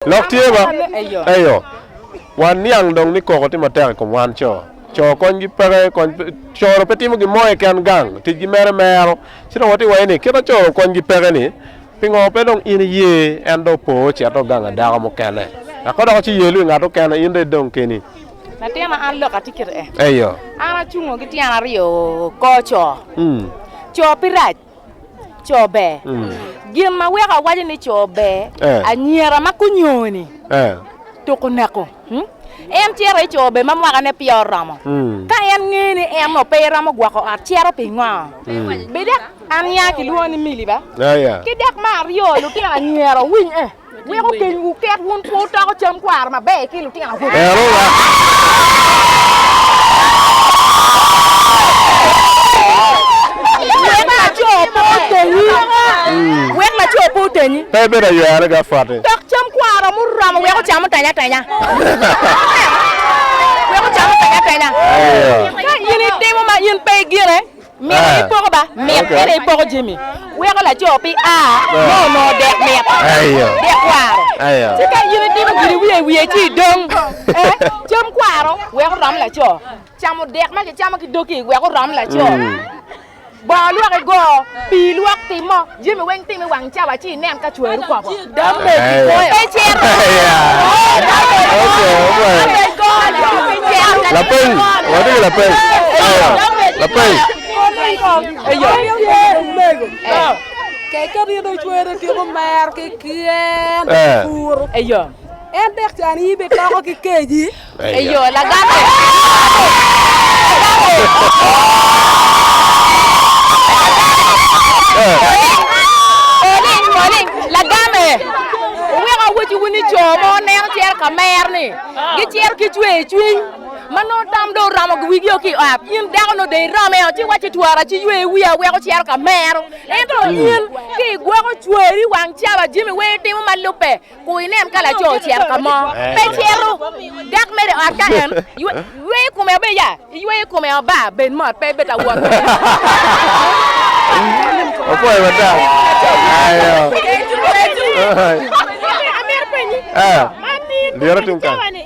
Lok tye ma, Eyo. Wan niang dong ni koko tye matek i kom wan co. Co konygi peke, kony pe, coro pe timo gin mo keken gang, ticgi mere mero. Ci dong watye ka waco ni, kit ma coro konygi peke-ni, pingo pe dong in iye en dong opo ocito oganga dako mukene, eka dok ci yelo i ngat mukene, in dong idong keni? Latina, an lok atye kit-ti. Eyo. An acungo ki tyena aryo kor co. Co pe rac. co ber. Mm. Gin ma weko awaco ni co ber, eh. anyira ma kunyoni eh. tuku neko, hmm? en cito i co ber ma mwakane pe oromo. Mm. Ka en ngeyo ni en no pe eromo gwoko ot, cito pingo? Mm. Bidek an ya kilwongo ni mili ba? Ah, yeah. Ki dek ma aryo, lutino anyira winy eh. Weko kenywu ket wun pe wutoko cam kwaro maber ki lutino awobe. Wek laco pe otenyi. Pe ibed aywere ki apoti. Tok cam kwaro muromo wek ocam oteny atenya. Wek ocam oteny atenya. Ka in itimo ma in pe igine. Mito ni poko ba mit kede i poko jami weko laco pi a me onongo dek mit, dek kwaro. Ci ka in itimo gin iwiye i wiye ci idong, ee, cam kwaro wek orom laco, camo dek ma kicamo ki doki wek orom laco, bongo lwok igo, pii lwok timo. Jami weng time wang cawa ci inen ka cwari okobo. Lapeny, watye ki lapeny. Lapeny. Keken in ocwer otyeko mer ki kyen puro. En dek can in ibitoko ki keji. Eyo, lagame! Lagame! Moling, moling, lagame! Wuweko awacciwu ni co mo neno cero ka mer ni gicero ki cwer cwiny ma nongo tam dong oromo wigi o ki i ot. In dako nongo dong iromo eo ci iwacci twara ci yweyo wiya aweko cero ka mero. Ento in ki igwoko cweri wang caba jami weng itimo ma lubbe. ku inen ka laco ocito ka mo. Pe cito. Dok mere ot ka en yweyo kome obe ya, iyweyo kome o ba, bed mot pe bed awot. Opoyo mata. Ayo. Amito penyi. Ah. Liro tung kany.